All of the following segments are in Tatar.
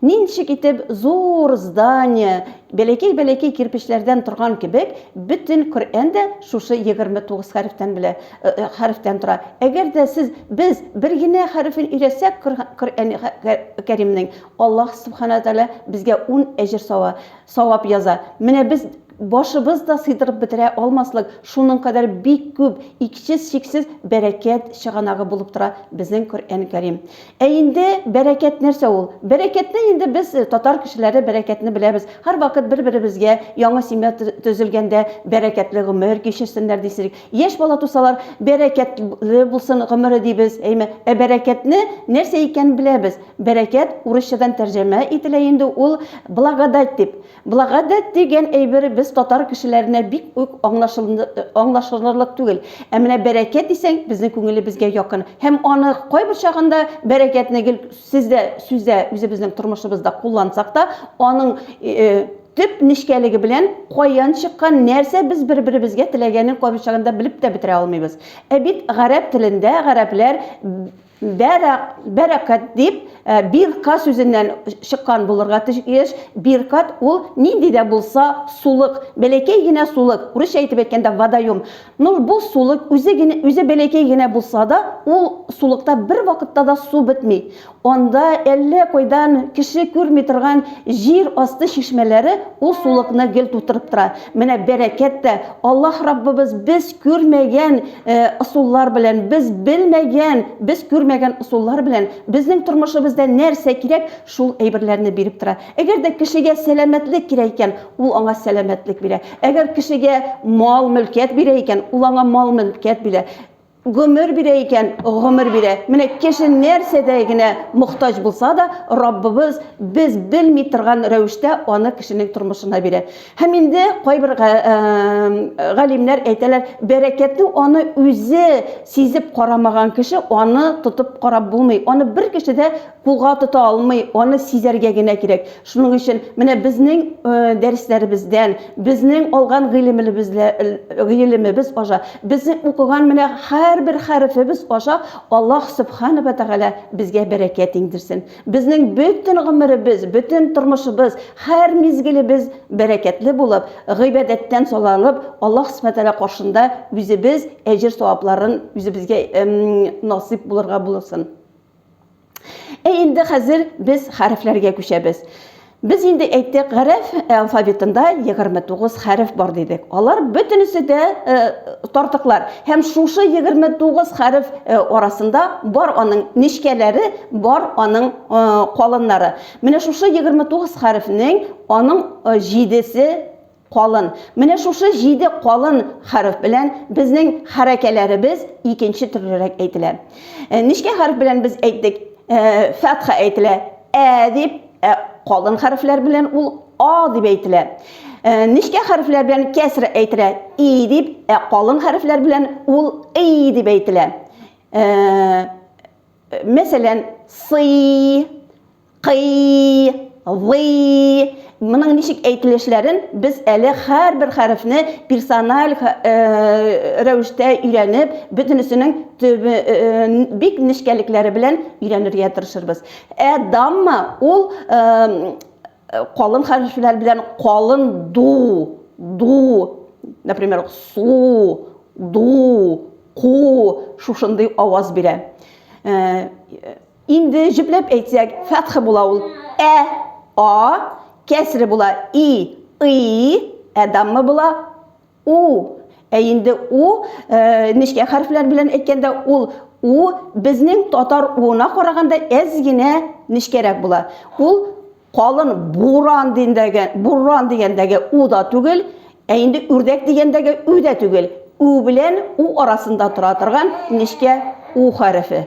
Ничек итеп зур здание, бәләкәй-бәләкәй кирпечләрдән торган кебек, бөтен Коръән дә шушы егерме тугыз хәрефтән белә, хәрефтән тора. Әгәр дә сез, без бер генә хәрефен өйрәтсәк Коръәни Кәримнең, Аллаһ Субхана Тәгалә безгә ун әҗер сава. Савап яза. Менә без башыбыз да сыйдырып бетерә алмаслык шуның кадәр бик күп, иксез-чиксез бәрәкәт чыганагы булып тора безнең Коръән Кәрим. Ә инде бәрәкәт нәрсә ул? Бәрәкәтне инде без, татар кешеләре, бәрәкәтне беләбез. Һәрвакыт бер-беребезгә, яңа семья төзелгәндә, бәрәкәтле гомер кичерсеннәр дисек, яшь бала тусалар, бәрәкәтле булсын гомере дибез, әйме? Ә бәрәкәтне нәрсә икәнен беләбез. Бәрәкәт, урысчадан тәрҗәмә ителә инде ул благодать дип. Благодать дигән әйбер без татар кешеләренә бик үк аңлашылырлык түгел. Ә менә бәрәкәт дисәң, безнең күңелебезгә якын. Һәм аны кайбер чагында бәрәкәтне гел сездә, сүздә, үзебезнең тормышыбызда куллансак та, аның төп нечкәлеге белән каян чыккан, нәрсә без бер-беребезгә теләгәнен кайбер чагында белеп тә бетерә алмыйбыз. Ә бит гарәп телендә гарәпләр Бәрак, бәрәкәт дип, бирка сүзеннән чыккан булырга тиеш. Биркат ул нинди дә булса сулык, бәләкәй генә сулык, урысча әйтеп әйткәндә водоем. Ну, бу сулык үзе генә, үзе бәләкәй генә булса да, ул сулыкта бервакытта да су бетми. Анда әллә кайдан кеше күрми торган җир асты чишмәләре ул сулыкны гел тутырып тора. Менә бәрәкәт тә, Аллаһ Раббыбыз без күрмәгән, ысуллар белән, без белмәгән, без күрмәгән ысуллар белән безнең тормышыбызда нәрсә кирәк, шул әйберләрне биреп тора. Әгәр дә кешегә сәламәтлек кирәк икән, ул аңа сәламәтлек бирә. Әгәр кешегә мал-мөлкәт бирә икән, ул аңа мал-мөлкәт бирә. Гомер бирә икән, гомер бирә. Менә кеше нәрсәдә генә мохтаҗ булса да, Раббыбыз без белми торган рәвештә аны кешенең тормышына бирә. Һәм инде кайбер галимнәр әйтәләр, бәрәкәтне аны үзе сизеп карамаган кеше аны тотып карап булмый. Аны бер кеше дә кулга тота алмый, аны сизәргә генә кирәк. Шуның өчен менә безнең дәресләребездән, безнең алган гыйлемебез аша, безнең укыган менә һәрбер хәрефебез аша Аллаһ Сөбхана ва Тәгалә безгә бәрәкәт иңдерсен. Безнең бөтен гомеребез, бөтен тормышыбыз, һәр мизгелебез бәрәкәтле булып, гыйбадәттән сайланып, Аллаһ Сүбхәнә Тәгалә каршында үзебез әҗер-савапларын үзебезгә насыйп булырга булсын. Әй инде хәзер без хәрефләргә күчәбез. Без инде әйттек, гарәп алфавитында 29 хәреф бар дидек. Алар бөтенесе дә э, тартыклар. Һәм шушы 29 хәреф э, арасында бар аның нечкәләре, бар аның э, калыннары. Менә шушы 29 хәрефнең аның э, җидесе Калын. Менә шушы җиде калын хәреф белән безнең хәрәкәләребез икенче төрлерәк әйтелә. Нечкә хәреф белән без әйттек, фәтха әйтелә, ә дип, ә калын хәрефләр белән ул а дип әйтелә. Нечкә хәрефләр белән кәср әйтелә, и дип, ә калын хәрефләр белән ул и дип әйтелә. Мәсәлән, сый, Кый, гый. Моның ничек әйтелешләрен без әле һәрбер хәрефне персональ рәвештә өйрәнеп, бөтенесенең бик нечкәлекләре белән өйрәнергә тырышырбыз. Ә дамма ул калын хәрефләр белән калын ду, ду, например, су, ду, ку шушындый аваз бирә. Инде җөпләп әйтсәк, фәтхе була ул. Ә, а, кәсре була, и, ый, ә даммы була, у. Ә инде у, нечкә хәрефләр белән әйткәндә, ул у безнең татар уына караганда әз генә нечкәрәк була. Ул калын буран дигәндәге, буран дигәндәге у да түгел, ә инде үрдәк дигәндәге ү дә түгел. У белән у арасында тора торган нечкә у хәрефе.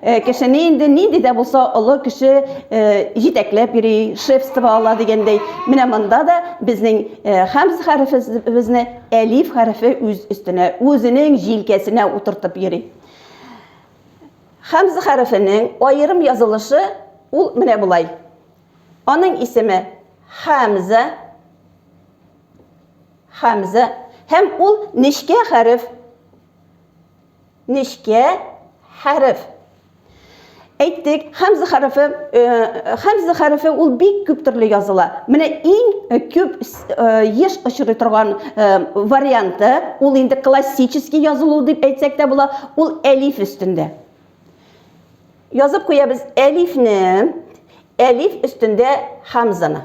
Э, кешене инде нинди дә булса олы кеше э, җитәкләп йөри, шефство ала дигәндәй. Менә монда да безнең э, хәмз хәрефебезне әлиф хәрефе үз өстенә, үзенең җилкәсенә утыртып йөри. Хәмз хәрефенең аерым язылышы ул менә болай. Аның исеме Хәмзә. Хәмзә һәм ул нечкә хәреф. Нечкә хәреф. Әйттек, хәмзә хәрефе, э, хәмзә хәрефе ул бик күп төрле языла. Менә иң күп э, еш очрый торган э, варианты, ул инде классический язылу дип әйтсәк тә була, ул әлиф өстендә. Язып куябыз әлифне, әлиф өстендә хамзаны.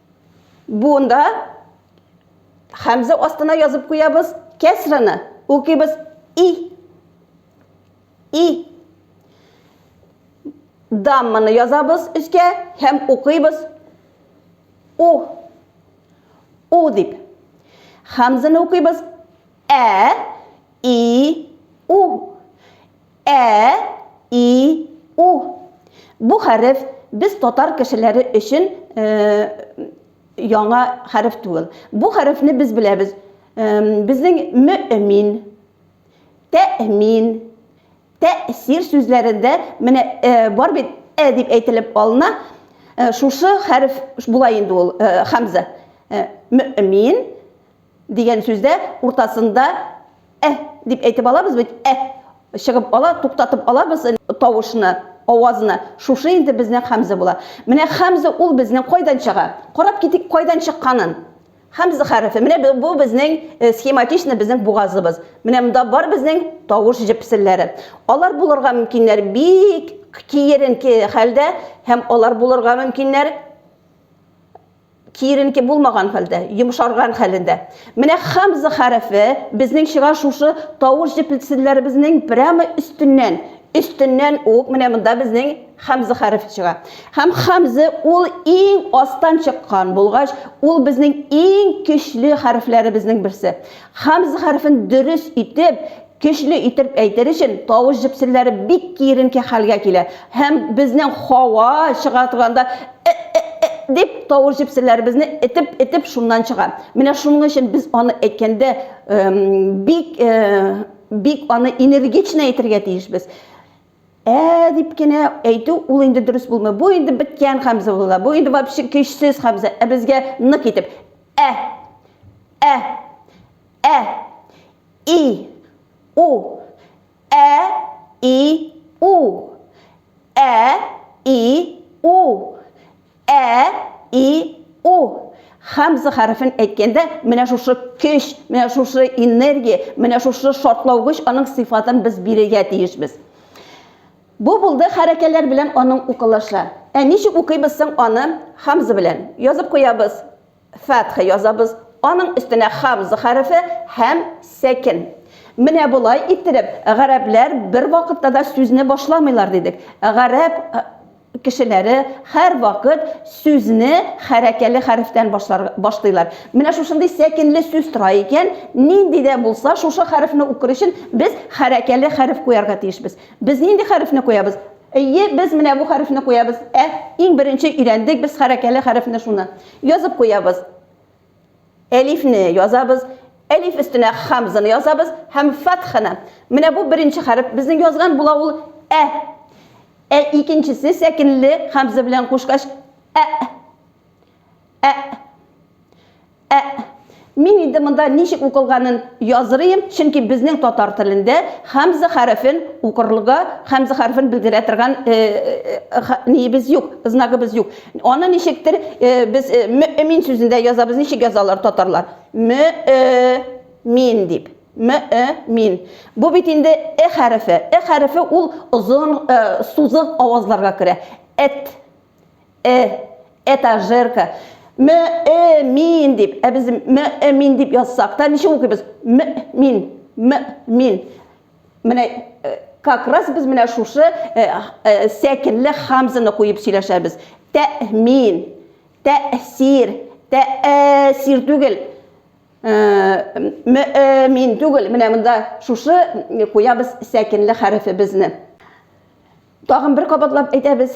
Бунда хәмзә астына язып куябыз кәсраны. Укыйбыз и. И. Дамманы язабыз өскә һәм укыйбыз у. У дип. Хәмзәне укыйбыз ә, и, у. Ә, и, у. Бу хәреф без татар кешеләре өчен яңа хәреф түгел. Бу хәрефне без беләбез. Безнең мөэмин, тәэмин, тәэсир сүзләрендә менә бар бит ә дип әйтелеп алына. Шушы хәреф була инде ул хамза. Мөэмин, Дигән сүздә уртасында Ә дип әйтеп алабыз бит, Ә чыгып ала, туктатып алабыз тавышны, авазны. Шушы инде безнең Хәмзә була. Менә Хәмзә ул безнең кайдан чыга? Карап китик кайдан чыкканын. Хәмзә хәрефе. Менә бу безнең схематично безнең бугазыбыз. Менә монда бар безнең тавыш җепселләре. Алар булырга мөмкиннәр бик киеренке хәлдә һәм алар булырга мөмкиннәр киеренке булмаган хәлдә, йомшарган хәлендә. Менә хамза хәрефе безнең чыгар шушы тавыш җеплетсеннәребезнең прямо өстеннән, өстеннән ук менә монда безнең хамза хәрефе чыга. Һәм хамза ул иң астан чыккан булгач, ул безнең иң көчле хәрефләребезнең берсе. Хамза хәрефен дөрес итеп Көчле итеп әйтер өчен, тавыш җепселләре бик киеренке хәлгә килә һәм безнең һава чыга торганда э-э-э дип тавыш җепселләребезне этеп-этеп шуннан чыга. Менә шуның өчен без аны әйткәндә бик, бик аны энергично әйтергә тиешбез. Ә дип кенә әйтү ул инде дөрес булмый. Бу инде беткән Хәмзә була. Бу инде вообще көчсез Хәмзә. Ә безгә нык итеп, Ә! Ә! Ә! И, у. Ә, и, у. Ә, и, у. Ә, и, у. Хамза хәрефен әйткәндә, менә шушы көч, менә шушы энергия, менә шушы шартлаугыч аның сыйфатын без бирергә тиешбез. Бу булды хәрәкәләр белән аның укылышы. Ә ничек укыйбыз соң аны хамза белән? Язып куябыз. Фәтхә язабыз, аның өстенә хамза хәрефе һәм сәкен. Менә болай иттереп, гарәпләр бер вакытта да сүзне башламыйлар дидек. Гарәп кешеләре һәрвакыт сүзне хәрәкәле хәрефтән башлыйлар. Менә шушындый сәкенле сүз тора икән, нинди дә булса, шушы хәрефне укыр өчен без хәрәкәле хәреф куярга тиешбез. Без нинди хәрефне куябыз? Әйе, без менә бу хәрефне куябыз. Ә, иң беренче өйрәндек без хәрәкәле хәрефне шуны. Язып куябыз. Әлифне язабыз, әлиф өстенә хамзаны язабыз һәм фатханы. Менә бу беренче хәреф безнең язган була ул ә. Ә икенчесе сәкенле хамза белән кушкач ә. Ә. Ә. Мин инде монда ничек укылганын язырыйм, чөнки безнең татар телендә хамза хәрефен укырлыга хамза хәрефен белдерә торган ниебез юк, знагыбыз юк. Аны ничектер без мөэмин сүзендә язабыз, ничек язалар татарлар? Мө-э-мин дип. Мө-э-мин. Бу бит инде э хәрефе. Э хәрефе ул озын, сузык авазларга керә. Эт. Э, этажерка. Мө, э, мин дип. Ә без мө, э, мин дип язсак та ничек укыйбыз? Мө, мин, мө, мин. Менә э, как раз без менә шушы э, э, сәкенле хамзаны куеп сөйләшәбез. Тәмин, тәсир, тәсир түгел. Э, мө, э, мин түгел. Менә монда шушы э, куябыз сәкенле хәрефебезне. Тагын бер кабатлап әйтәбез.